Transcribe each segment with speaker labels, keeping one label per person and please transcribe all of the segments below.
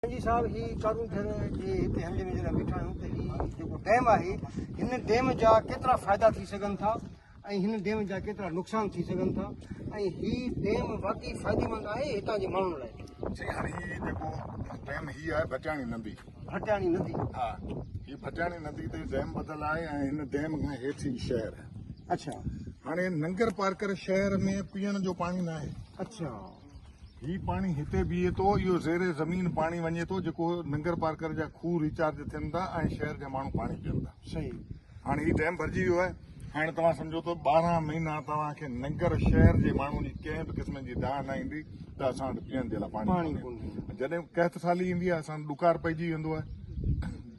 Speaker 1: سائين صاحب هي چارون ٿر جي هتي حملي ۾ جڏهن بيٺا آهيون ته هي جيڪو ڊيم آهي هن ڊيم جا ڪيترا فائدا ٿي سگهن ٿا ۽ هن ڊيم جا ڪيترا نقصان ٿي سگهن ٿا ۽ هي ڊيم واقعي فائديمند آهي هتان جي ماڻهن لاء سائين هاڻي هي جيڪو
Speaker 2: ڊيم هي آهي ڀٽياڻي ندي ڀٽياڻي ندي
Speaker 1: ها هي
Speaker 2: ڀٽياڻي ندي تي ڊيم ٻڌل آهي ۽ هن ڊيم کان هيٺ هي شهر اڇا
Speaker 1: هاڻي ننگر
Speaker 2: پارڪر شهر ۾ پيئڻ جو پاڻي ناهي اڇا
Speaker 1: هي
Speaker 2: پاڻي هتي بيهي ٿو، اهو زير زمين پاڻي وڃي ٿو جيڪو ننگرپارڪر جا کوهه ريچارج ٿين ٿا ۽ شهر جا ماڻهو پاڻي پين ٿا. صحيح. هاڻي هي
Speaker 1: ڊيم
Speaker 2: ڀرجي ويو آهي، هاڻي توهان سمجهو ته ٻارهن مهينا توهان کي ننگر شهر جي ماڻهن جي ڪنهن به قسم جي دانهن نه ايندي ته اسان وٽ پيئڻ جي لاء پاڻي ڪونهي. جڏهن قحط سالي ايندي آهي، اسان وٽ ڏڪار پئجي ويندو آهي.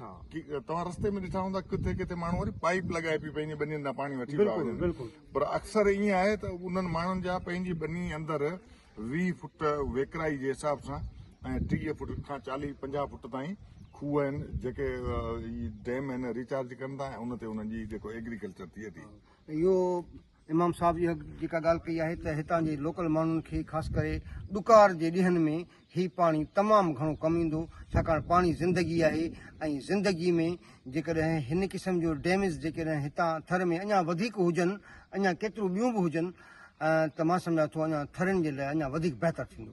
Speaker 2: توهان رستي ۾ ڏٺا هوندا ڪٿي ڪٿي ماڻهو وري پائيپ لڳائي پي پنهنجي ٻنين تان پاڻي وٺي پيا وڃن پر اڪثر ائين آهي ته انهن ماڻهن جا پنهنجي ٻني اندر ويهه فٽ ويڪرائي جي حساب سان ۽ ٽيهه فٽ کان چاليهه پنجاهه فٽ تائين کوهه آهن جيڪي ڊيم آهن ريچارج ڪن ٿا ۽ ان تي انهن جي جيڪو ايگريڪلچر ٿئي ٿي اهو
Speaker 1: امام صاحب اها جيڪا ڳالهه ڪئي آهي ته هتان جي لوڪل ماڻهن کي خاص ڪري ڏڪار جي ڏينهن ۾ هي پاڻي تمام گهڻو ڪم ايندو ڇاڪاڻ پاڻي زندگي آهي ۽ زندگي ۾ جيڪڏهن هن قسم جو ڊيمز جيڪڏهن هتان ٿر ۾ اڃا وڌيڪ هجن اڃا ڪيتريون ٻيون به هجن ته مان سمجهان ٿو اڃا ٿرين جي لاء اڃا وڌيڪ بهتر ٿيندو.